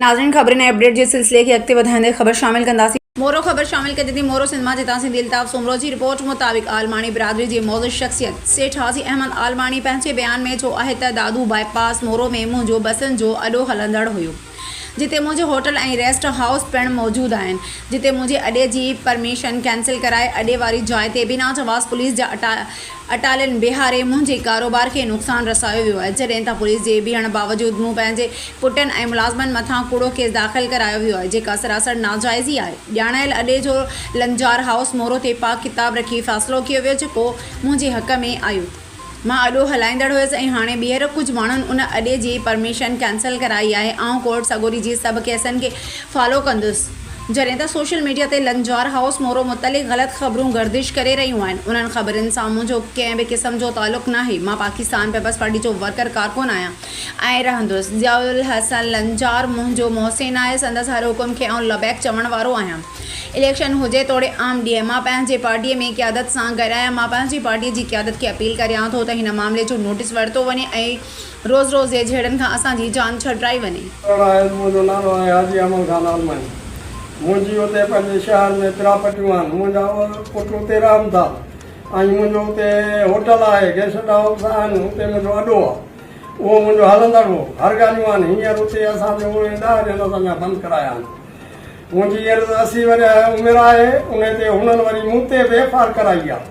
ناظرين خبرن ۽ اپڊيٽ جي سلسلي کي اڳتي وڌائيندي خبر شامل ڪنداسين. مورو خبر شامل ڪجي ٿي مورو سنڌ مان جتان سنڌي الطاف سومرو جي رپورٽ مطابق عالماڻي برادري جي معزز شخصيت سيٺ حاجي احمد عالماڻي پنهنجي بيان ۾ چيو آهي ته دادو بائي پاس مورو ۾ منهنجو بسن جو اڏو هلندڙ هيو جتي منهنجي هوٽل ۽ ريسٽ هائوس پڻ موجود آهن جتي منهنجي اڏي جي پرميشن ڪينسل ڪرائي اڏي واري جاء تي بنا جواز پوليس جا اٽا اٽالين بيهاري منهنجي ڪاروبار کي نقصان رسايو ويو آهي، جڏهن ته پوليس جي بيهڻ باوجود مون پنهنجي پٽن ۽ ملازمن مٿان ڪوڙو ڪيس داخل ڪرايو ويو آهي، جيڪا سراسر ناجائز ئي آهي. ڄاڻايل اڏي جو لنجار هائوس مورو تي پاڪ ڪتاب رکي فيصلو ڪيو ويو جيڪو منهنجي حق ۾ آيو. مان اڏو هلائيندڙ هيس ۽ هاڻي ٻيهر ڪجهه ماڻهن ان اڏي جي پرميشن ڪينسل ڪرائي آهي. آئون ڪورٽ سڳوري جي سڀ ڪيسن کي فالو ڪندس. جڏهن ته سوشل ميڊيا تي لنجار هائوس مورو متعلق غلط خبرون گردش ڪري رهيون آهن، انهن خبرن سان منهنجو ڪنهن به قسم جو تعلق ناهي، مان پاڪستان پيپلز پارٽي جو ورڪر ڪارڪن آهيان ۽ رهندس، ضياء الحسن لنجار منهنجو محسن آهي، سندس هر حڪم کي آئون لبيڪ چوڻ وارو آهيان، اليڪشن هجي توڙي عام ڏينهن، مان پنهنجي پارٽي ۾ قيادت سان گڏ آهيان، مان پنهنجي پارٽي جي قيادت کي اپيل ڪريان ٿو ته هن معاملي جو نوٽيس ورتو وڃي ۽ روز روز جي جهيڙن کان اسان جي جان ڇڏرائي وڃي. ڪهڙا آهيو؟ منهنجو نالو آهي حاجي احمد خان عالمائي. منهنجي اتي پنهنجي شهر ۾ پراپرٽيون آهن. منهنجا پٽ اتي رهن ٿا ۽ منهنجو اتي هوٽل آهي، گيسٽ هائوس آهن، اتي منهنجو اڏو آهي. اهو منهنجو هلندڙ هو. هر ڳالهيون آهن. هينئر اتي اسان جو اڻ ڏهه ڏينهن اسان جا بند ڪرايا آهن. منهنجي هينئر اسي ورهيه عمر آهي. انهي تي هنن وري مون تي بي فار ڪرائي آهي.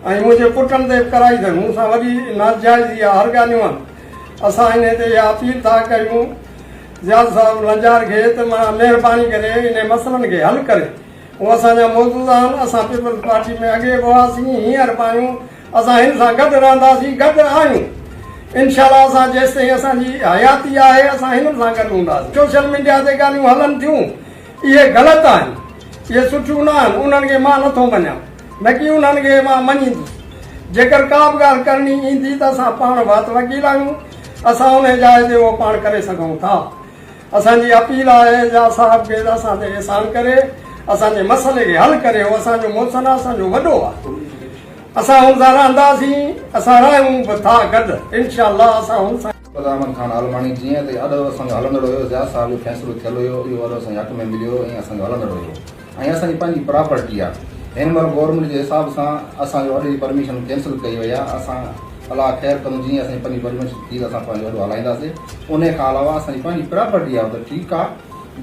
۽ منهنجي پٽن تي به ڪرائي اٿن، مون سان وڏي ناجائزي آ، هر ڳالهيون آهن، اسان انهي تي اها اپيل ٿا ڪريون زياد صاحب لنجار کي ته مهران مهرباني ڪري انهن مسئلن کي حل ڪري، هو اسان جا معزز آهن، اسان پيپلز پارٽي ۾ اڳي به هئاسين، هينئر به آهيون، اسان هن سان گڏ رهنداسين، گڏ آهيون، انشاء الله اسان جيستائين اسان جي حياتي آهي اسان هنن سان گڏ هونداسين، سوشل ميڊيا تي ڳالهيون هلن ٿيون اهي غلط آهن، اهي سٺيون نه آهن، انهن کي مان نٿو مڃان. نڪي انهن کي مان مڃيندس. جيڪر ڪا به ڳالهه ڪرڻي ايندي ته اسان پاڻ وات وڪيل آهيون، اسان انهي جاء تي اهو پاڻ ڪري سگهون ٿا. اسان جي اپيل آهي اعجاز صاحب کي ته اسان تي احسان ڪري اسان جي مسئلي کي حل ڪري هو اسان جو محسن آهي اسان جو وڏو آهي. اسان هن سان رهنداسين، اسان رهيون به ٿا گڏ. انشاء الله اسان هن سان. قلعه احمد خان عالماڻي، جيئن ته اڏ اسان جو هلندڙ هيو، ضياء صاحب جو فيصلو ٿيل هيو، اهو اڏ اسان جي حق ۾ مليو ۽ اسان جو هلندڙ هيو ۽ اسان جي پنهنجي پراپرٽي آ. هن مهل گورنمينٽ جي حساب سان اسان جو اڏ جي پرميشن ڪينسل ڪئي وئي آ. اسان الله خير ڪندو جيئن اسان جي پنهنجي پرميشن ٿي ته اسان پنهنجو اڏ هلائينداسي. انهي کان علاوه اسان جي پنهنجي پراپرٽي آ ته ٺيڪ آ.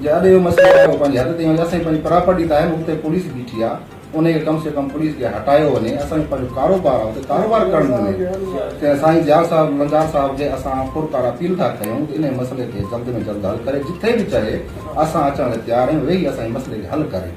جي اڏ جو مسئلو آهي اهو پنهنجي حد تائين هجي. اسان جي پنهنجي پراپرٽي ته آهي نه اتي پوليس بيٺي آ. انهي کي ڪم سي ڪم پوليس کي هٽايو وڃي اسان جو پنهنجو ڪاروبار آ اتي ڪاروبار ڪرڻ ڏنو ته سائين ضياء صاحب لنجار صاحب کي اسان پرڪار اپيل ٿا ڪيون ته انهي مسئلي کي جلد ۾ جلد حل ڪري جتي به چهي اسان اچڻ لاء تيار آهيون ويهي اسان جي مسئلي کي حل ڪري.